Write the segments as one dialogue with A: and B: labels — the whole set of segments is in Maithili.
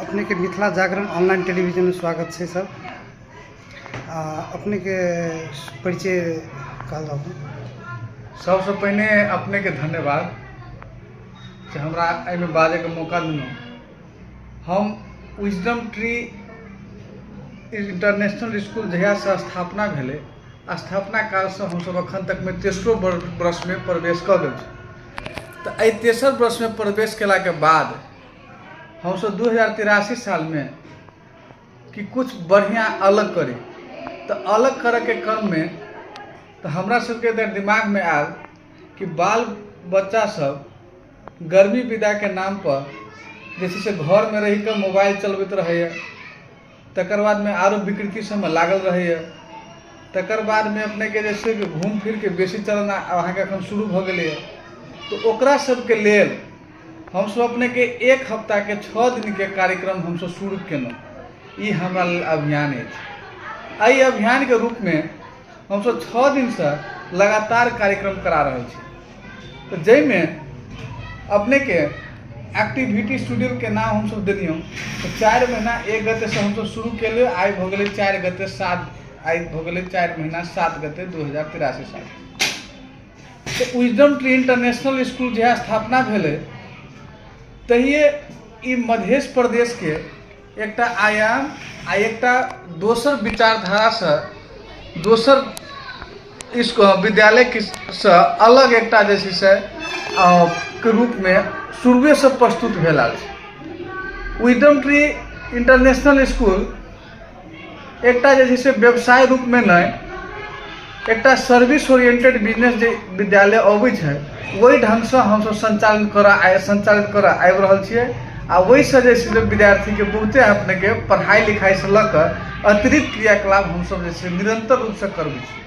A: अपने के मिथिला जागरण ऑनलाइन टेलीविजन में स्वागत है सर आ, अपने के परिचय कहल जाओ
B: सबसे पहिने अपनेके धन्यवाद जे हमरा एहिमे बाजैके मौका देलहुँ हम विजडम ट्री इंटरनेशनल इसकुल जहियासँ स्थापना भेलै स्थापना कालसँ हमसभ एखन तकमे तेसरो वर्षमे प्रवेश कऽ गेल छी तऽ एहि तेसर वर्षमे प्रवेश कयलाके बाद हमसभ दू हजार तिरासी सालमे कि किछु बढ़िआँ अलग करी तऽ अलग करयके क्रममे तऽ हमरा सभके तऽ दिमागमे आयल कि बाल बच्चासभ गर्मी विदाके नाम पर जे छै से घरमे रहि कऽ मोबाइल चलबैत रहैए तकर बादमे आरो विकृति सभमे लागल रहैए तकर बादमे अपनेके जे छै घूम फिरके बेसी चलना अहाँके एखन शुरू भऽ गेलैए तऽ ओकरा सभके लेल हमसभ अपनेके एक हफ्ताके छओ दिनके कार्यक्रम हमसभ शुरू केलहुँ ई हमरा लेल अभियान अछि एहि अभियानके रूपमे हमसभ छओ दिनसँ लगातार कार्यक्रम करा रहल छी तऽ जाहिमे अपनेके एक्टिविटी स्टूडियोके नाम हमसभ देलियौ तऽ चारि महीना एक गतेसँ हमसभ शुरू केलियै आइ भऽ गेलै चारि गते सात आइ भऽ गेलै चारि महीना सात गते दू हजार तिरासी साल तऽ विजडम ट्री इंटरनेशनल स्कूल जहिया स्थापना भेलै तहिये ई मध्य प्रदेशके एकटा आयाम आ एकटा दोसर विचारधारासँ दोसर इसको विद्यालयके सँ अलग एकटा जे छै से अ, के रूपमे शुरुएसँ प्रस्तुत भेल आयल छै विदम ट्री इंटरनेशनल स्कूल एकटा जे छै से व्यवसाय रूपमे नहि एकटा सर्विस ओरिएंटेड बिजनेस जे विद्यालय अबै छै ओहि ढङ्गसँ हमसभ सञ्चालन करऽ आइ सञ्चालन करऽ आबि रहल छियै आ ओहिसँ जे छै से विद्यार्थीके बहुते अपनेके पढ़ाइ लिखाइसँ लऽ कऽ अतिरिक्त क्रियाकलाप हमसभ जे छै निरन्तर रूपसँ करबै छियै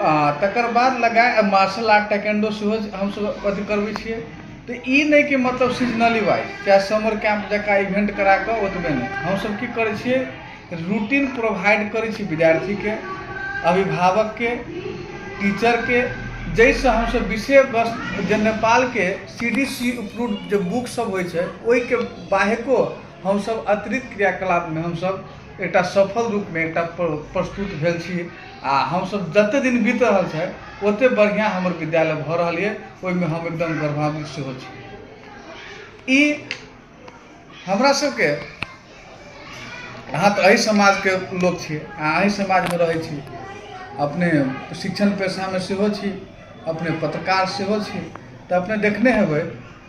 B: आओर तकर बाद लगाय मार्शल आर्ट टाइक्वांडो सेहो हमसब अथी करबय छियै तऽ ई नहि कि मतलब सीजनली वाइज चाहे समर कैम्प जकाँ इवेंट कराकऽ ओतबे नहि हमसब की करय छियै रूटीन प्रोवाइड करय छी विद्यार्थीके अभिभावकके टीचरके जैसँ हमसब विषय वस्तु जे नेपालके सी डी सी अप्रूव जे बुक सब होइ छै ओइके बाहेको हमसब अतिरिक्त क्रियाकलापमे हमसब एकटा सफल रूपमे एकटा प्रस्तुत भेल छी आ हमसभ जतेक दिन बीत रहल छै ओतेक बढ़िआँ हमर विद्यालय भऽ रहल यए ओहिमे हम एकदम गर्वान्वित सेहो छी ई हमरा सभके अहाँ तऽ एहि समाजके लोक छी अहाँ एहि समाजमे रहै छी अपने शिक्षण पेशामे सेहो छी अपने पत्रकार सेहो छी तऽ अपने देखने हेबै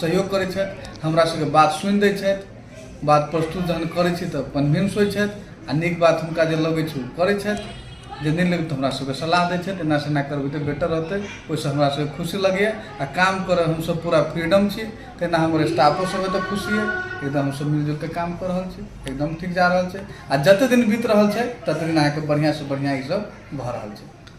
B: सहयोग करै छथि हमरा सबके बात सुनि दै छथि बात प्रस्तुत जहन करै छी तऽ कन्विन्स होइ छथि आ नीक बात हुनका जे लगै छै ओ करै छथि जे नहि लगै तऽ हमरा सबके सलाह दै छथि एना से एना करबै तऽ बेटर रहतै ओहिसँ हमरा सबके खुशी लगैए आ काम करऽ हमसब पूरा फ्रीडम छी तहिना हमर स्टाफो सब एतऽ खुशी अइ एकदम हमसब मिलजुल कऽ काम कऽ रहल छी एकदम ठीक जा रहल छै आ जते दिन बीत रहल छै तते दिन अहाँके बढ़िआँ से बढ़िआँ ई सब भऽ रहल छै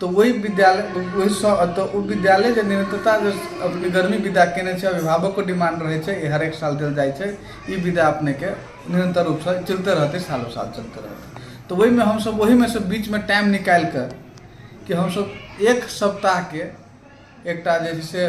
B: तऽ ओहि विद्यालय ओहिसँ एतऽ ओ विद्यालय जे निरन्तरता जे अपने गर्मी विदा कयने छै अभिभावकके डिमाण्ड रहैत छै जे हरेक साल देल जाइत छै ई विदा अपनेके निरन्तर रूपसँ चलिते रहतै सालो साल चलिते रहतै तऽ ओहिमे हमसब ओहिमेसँ बीचमे टाइम निकालि कऽ कि हमसब एक सप्ताहके एकटा जे छै से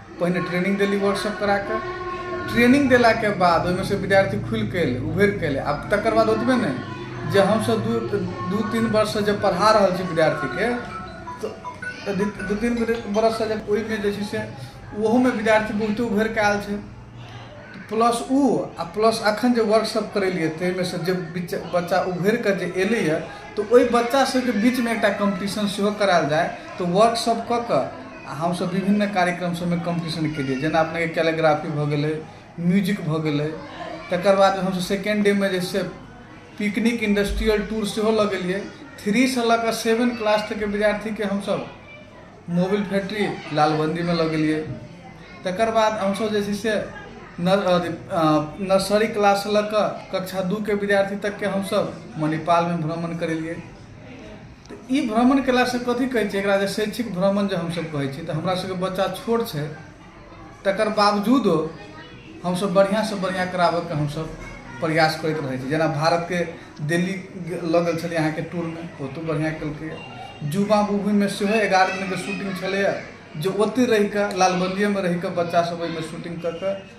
B: पहिने ट्रेनिंग देली वर्कशॉप करा कऽ ट्रेनिंग देलाके बाद ओहिमे से विद्यार्थी खुलि कऽ एलै उभरि कऽ एलै आ तकर बाद ओतबे नहि जे हमसभ दू दू तीन वर्षसँ जे पढ़ा रहल छी विद्यार्थीके तऽ दू दू तीन बरससँ जे ओहिमे जे छै से ओहोमे विद्यार्थी बहुते उभरि कऽ आयल छै प्लस ओ आ प्लस अखन जे वर्कशॉप करेलियै ताहिमे से जे बिच- बच्चा उभरि कऽ जे एलैए तऽ ओहि बच्चा सभके बीचमे एकटा कम्पटिशन सेहो करायल जाय तऽ वर्कशॉप कऽ कऽ आ हमसब विभिन्न कार्यक्रम सबमे कम्पटीशन केलियै जेना अपनेके कैलिग्राफी भऽ गेलै म्यूजिक भऽ गेलै तकर बाद हमसब सेकंड डे मे जे छै से पिकनिक इंडस्ट्रियल टूर सेहो लऽ गेलियै थ्री सँ लऽ कऽ सेवन क्लास तक के विद्यार्थी के हमसब मोबिल फैक्ट्री लालबंदी मे लऽ गेलियै तकर बाद हमसब जे छै से नर्सरी क्लास सँ लऽ कऽ कक्षा दू के विद्यार्थी तक के हमसब मणिपाल मे भ्रमण करेलियै तऽ ई भ्रमण कयलासँ कथी कहै छै एकरा जे शैक्षिक भ्रमण जे हमसभ कहै छी तऽ हमरा सभके बच्चा छोट छै तकर बावजूदो हमसभ बढ़िआँसँ बढ़िआँ कराबयके हमसभ प्रयास करैत रहै छी जेना भारतके दिल्ली लऽ गेल छलियै अहाँके टूरमे ओतहु बढ़िआँ केलकैए युवा मूवीमे सेहो एगारह दिनके शूटिंग छलैए जे ओतहि रहि कऽ लालबंदिएमे रहि कऽ बच्चासभ ओहिमे शूटिंग कऽ कऽ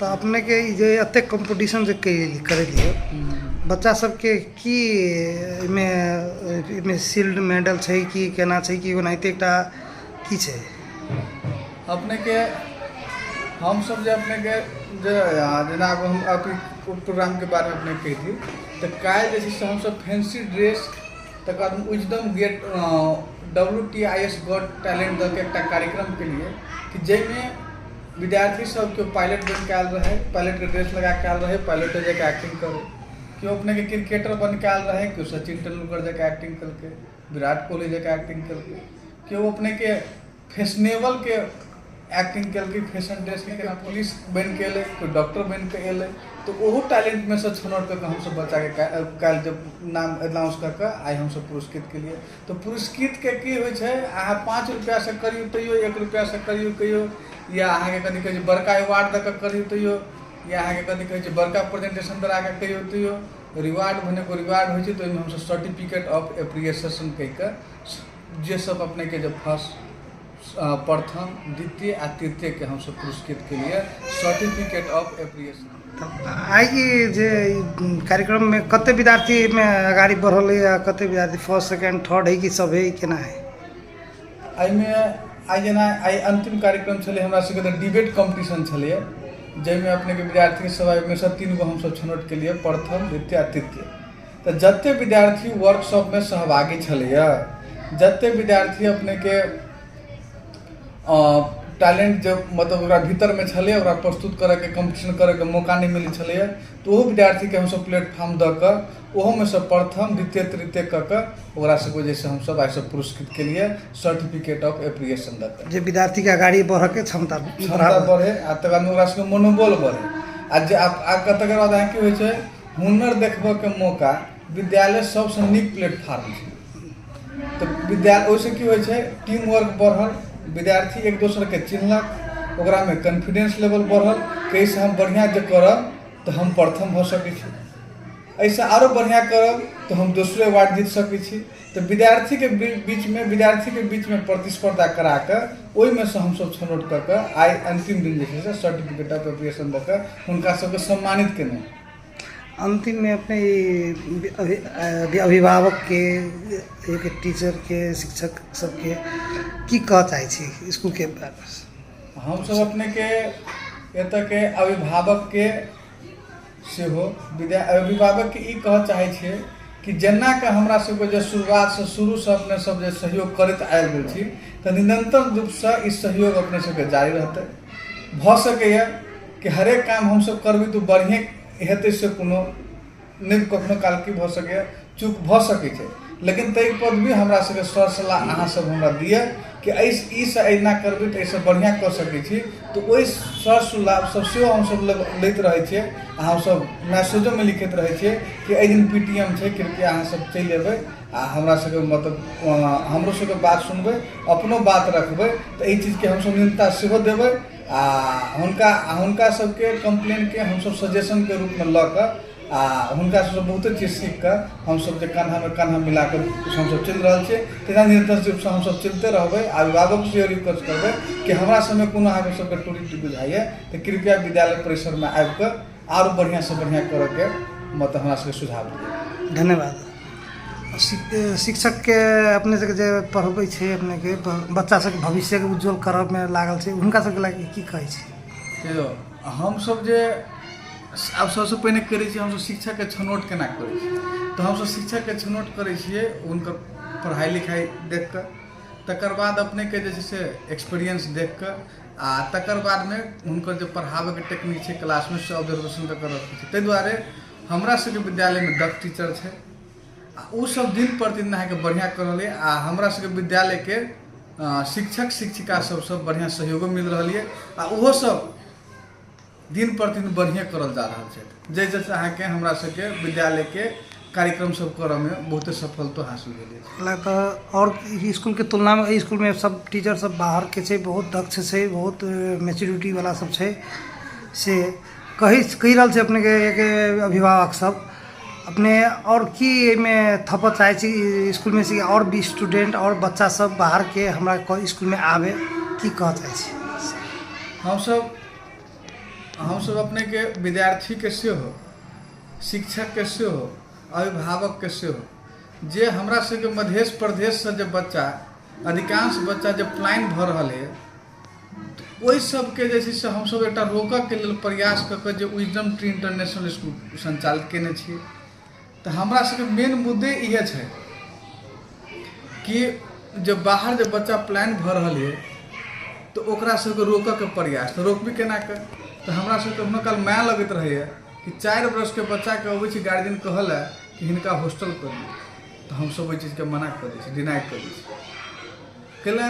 A: तऽ अपनेके ई जे एतेक कॉम्पिटिशन जे कयली करैत रहियै बच्चा सबके की एहिमे एहिमे शील्ड मेडल छै कि केना छै कि ओनाहिते एकटा की छै
B: अपनेके हमसब जे अपनेके जे जेना आब हम अथी कोर्ट प्रोग्रामके बारेमे अपनेके कहि दी तऽ काल्हि जे छै से हमसब फैंसी ड्रेस तकर बाद Wisdom get W T I S got talent दऽके एकटा कार्यक्रम कयलियै कि जाहिमे विद्यार्थी सब केओ पायलट बनिके आयल रहै पायलटके ड्रेस लगाके आयल रहै पायलटे जकाँ एक्टिंग करै केओ अपनेके क्रिकेटर बनिके आयल रहै केओ सचिन तेंदुलकर जकाँ एक्टिंग केलकै विराट कोहली जकाँ एक्टिंग केलकै केओ अपनेके फैशनेबलके एक्टिंग केलकै फैशन ड्रेसके केना पुलिस बनिके एलै केओ डॉक्टर बनिके एलै तऽ ओहो टैलेंटमे सँ छनौट कऽ कऽ हमसभ बच्चाके काल्हि जब नाम एनाउंस कऽ कऽ आइ हमसभ पुरस्कृत केलियै तऽ पुरस्कृतके की होइ छै अहाँ पाँच रुपैआसँ करियौ तैयो एक रुपैआसँ करियौ कहियौ या अहाँके कथी कहै छै बड़का अवार्ड दऽ कऽ करियौ तैयो या अहाँके कथी कहै छै बड़का प्रेजेंटेशन करा कऽ कहियौ तैयो रिवार्ड भेने एगो रिवार्ड होइ छै तऽ ओहिमे हमसभ सर्टिफिकेट ऑफ एप्रिसिएशन कहि कऽ जे सभ अपनेके जे फर्स्ट प्रथम द्वितीय आ तृतीयके हमसभ पुरस्कृत केलियै सर्टिफिकेट ऑफ एप्रिसिएशन आइ ई
A: जे ई कार्यक्रममे कते विद्यार्थी एहिमे अगाडि बढ़ल अइ आ कते विद्यार्थी फर्स्ट सेकेंड थर्ड है कि सब है केना है एहिमे
B: आइ जेना आइ अन्तिम कार्यक्रम छलै हमरा सबके तऽ डिबेट कॉम्पिटिशन छलैए जाहिमे अपनेके विद्यार्थी सब एहिमे सँ तीन गो हमसब छनौट केलियै प्रथम द्वितीय आ तृतीय तऽ जते विद्यार्थी वर्कशॉपमे सहभागी छलैए जते विद्यार्थी अपनेके टैलेंट जे मतलब ओकरा भीतरमे छलै ओकरा प्रस्तुत करैके कम्पीटिशन करैके मौका नहि मिलै छलैए तऽ ओहो विद्यार्थीके हमसब प्लेटफॉर्म दऽ कऽ ओहोमे सँ प्रथम द्वितीय तृतीय कऽ कऽ ओकरा सबके जे छै से हमसब आइ सब पुरस्कृत कयलियै सर्टिफिकेट ऑफ एप्रिसिएशन दऽ कऽ जे विद्यार्थीके अगाड़ी बढ़ऽके
A: क्षमता क्षमता बढ़ै आओर
B: तकर बाद ओकरा सबके मनोबल बढ़ै आओर जे आओर तकर बाद अहाँके की होइ छै हुनर देखबऽके मौका विद्यालय सबसँ नीक प्लेटफार्म छै तऽ विद्या ओइसँ की होइ छै टीम वर्क बढ़ल विद्यार्थी एक दोसरके चिन्हलक ओकरामे कॉन्फिडेन्स लेवल बढ़ल कि अइसँ हम बढ़िआँ जे करब तऽ हम प्रथम भऽ सकै छी अइसँ आरो बढ़िआँ करब तऽ हम दोसरे अवार्ड जीत सकै छी तऽ विद्यार्थीके बीचमे विद्यार्थीके बीचमे प्रतिस्पर्धा करा कऽ ओहिमे सँ हमसभ छनौट कऽ कऽ आइ अन्तिम दिन जे छै से सर्टिफिकेट ऑफ एप्रिसिएशन दऽ कऽ हुनका सभके सम्मानित केलहुँ अन्तिममे
A: अपने ई अभि अभि अभिभावकके एक टीचरके शिक्षक सभके की कहऽ चाहै छी इसकुलके बारेमे हमसभ अपनेके
B: एतयके अभिभावकके सेहो विद्या अभिभावकके ई कहऽ चाहै छियै कि जेना कऽ हमरा सबके जे शुरुआतसँ शुरूसँ अपने सब जे सहयोग करैत आबि रहल छी तऽ निरन्तर रूपसँ ई सहयोग अपने सबके जारी रहतै भऽ सकैए कि हरेक काम हमसब करबै तऽ ओ बढ़ियें हेतै से कोनो नहि कखनो काल की भऽ सकैए चूक भऽ सकै छै लेकिन ताहि पर भी हमरा सबके सर सलाह अहाँ सब हमरा दिअ कि ई से एना करबै तऽ एहिसँ बढ़िआँ कऽ सकै छी तऽ ओहि सर सलाह सब सेहो हमसब लैत रहै छियै आ हमसब मैसेजोमे लिखैत रहै छियै कि एहि दिन पी टी एम छै कृपया अहाँ सब चलि अयबै आ हमरा सबके मतलब हमरो सबके बात सुनबै अपनो बात रखबै तऽ एहि चीजके हमसब न्यूनता सेहो देबै आ हुनका हुनका सबके कम्प्लेनके हमसब सजेशनके रूपमे लऽ कऽ आ हुनका सबसँ बहुते चीज सीख कऽ हमसब जे कन्हामे कन्हा मिला कऽ हमसब चलि रहल छियै तहिना निरंतर रूपसँ हमसब चलिते रहबै आ अभिभावक से इहो रिक्वेस्ट करबै कि हमरा सबमे कोनो अहाँके सबके त्रुटि बुझाइया तऽ कृपया विद्यालय परिसरमे आबि कऽ आरो बढ़िऑं से बढ़िऑं करऽ के मतलब हमरा सबके सुझाव दिअ धन्यवाद
A: शिक्षकके अपने सबके जे पढ़बै छै अपनेके बच्चा सबके भविष्यके उज्जवल करऽमे लागल छै हुनका सबके लागि की कहै छै देखियौ हमसब
B: जे आब सबसँ पहिने करै छी हमसब शिक्षकके छनौट केना करै छी तऽ हमसब शिक्षकके छनौट करै छियै हुनकर पढ़ाइ लिखाइ देख कऽ तकर बाद अपनेके जे छै से एक्सपीरियंस देख कऽ आओर तकर बादमे हुनकर जे पढ़ाबैके टेक्निक छै क्लासमे से ऑब्जर्वेशन कऽ कऽ रखै छियै तै दुआरे हमरा सबके विद्यालयमे दक्ष टीचर छै आओर उ सब दिन प्रतिदिन अहाँके बढ़िआँ कऽ रहल यऽ आओर हमरा सबके विद्यालयके शिक्षक शिक्षिका सबसँ बढ़िआँ सहयोगो मिल रहल यऽ आओर उहो सब दिन प्रतिदिन बढ़िए करल जा रहल छै जाहि जैसे अहाँके हमरा सबके विद्यालयके कार्यक्रम सब करऽमे बहुते सफलतो हासिल भेल अछि ला तऽ आओर ई
A: इसकुलके तुलनामे एहि इसकुलमे सब टीचर सब बाहरके छै बहुत दक्ष छै बहुत मेच्योरिटी वाला सब छै से कहि कहि रहल छै अपनेके के अभिभावक सब अपने आओर की एहिमे थपऽ चाहै छी ई इसकुलमे से आओर भी स्टूडेंट आओर बच्चा सब बाहरके हमरा क- इसकुलमे आबे की कहऽ चाहै छी हमसब
B: हमसभ अपनेके विद्यार्थीके सेहो शिक्षकके सेहो अभिभावकके सेहो जे हमरा सभके मधेश प्रदेशसँ जे बच्चा अधिकांश बच्चा जे प्लाइन भऽ रहल है ओहि सभके जे छै से हमसभ एकटा रोकयके लेल प्रयास कऽ कऽ जे विजडम ट्री इंटरनेशनल स्कूल सञ्चालित कयने छियै तऽ हमरा सबके मेन मुद्दे इहे छै कि जे बाहर जे बच्चा प्लान भऽ रहल यऽ तऽ ओकरा सबके रोकऽके प्रयास तऽ रोकबै केना कऽ तऽ हमरा सबके कखनो काल माया लगैत रहैया कि चारि वर्षके बच्चाके अबै छै गार्जियन कहऽ लए कि हिनका हॉस्टल कऽ दियौ तऽ हमसब ओहि चीजके मना कऽ दै छी डिनाइ कऽ दै छी कैला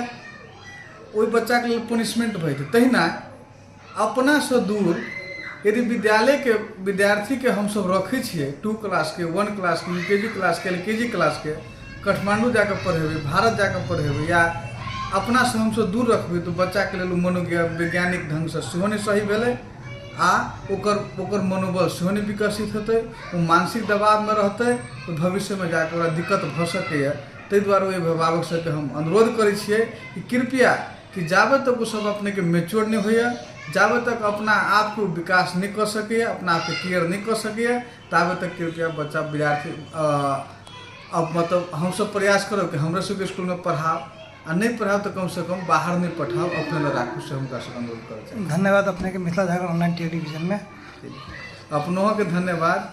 B: ओहि बच्चाके लेल पनिशमेंट भऽ जेतै तहिना अपना सँ दूर यदि विद्यालय के विद्यार्थी के हमसब रखै छियै टू क्लास के वन क्लास के यू के जी क्लास के एल के जी क्लास के काठमाण्डू जाके पढ़ेबै भारत जाके पढ़ेबै या अपना सँ हमसब दूर रखबै तऽ बच्चा के लेल मनो वैज्ञानिक ढंग सँ सेहो नहि सही भेलै आ ओकर ओकर मनोबल सेहो नहि विकसित हेतै ओ मानसिक दबाव मे रहतै तऽ भविष्य मे जाके ओकरा दिक्कत भऽ सकैया ताहि दुआरे ओ अभिभावक सब के हम अनुरोध करै छियै कि कृपया कि जाबे तक ओ सब अपने के मैच्योर नहि होइए जाबे तक अपना आप के ओ विकास नहि कऽ सकैए अपना आप के केयर नहि कऽ सकैए ताबे तक कृपया बच्चा विद्यार्थी अब मतलब हम सब प्रयास करब कि हमरे सबके स्कूल में पढ़ाओ आ नहि पढ़ाओ तऽ कम से कम बाहर नहि पठाओ अपने लग राखू से हुनका से अनुरोध करऽ चाहब धन्यवाद अपने के मिथिला
A: झारखंड ऑनलाइन टेलीविजन में अपनों
B: के धन्यवाद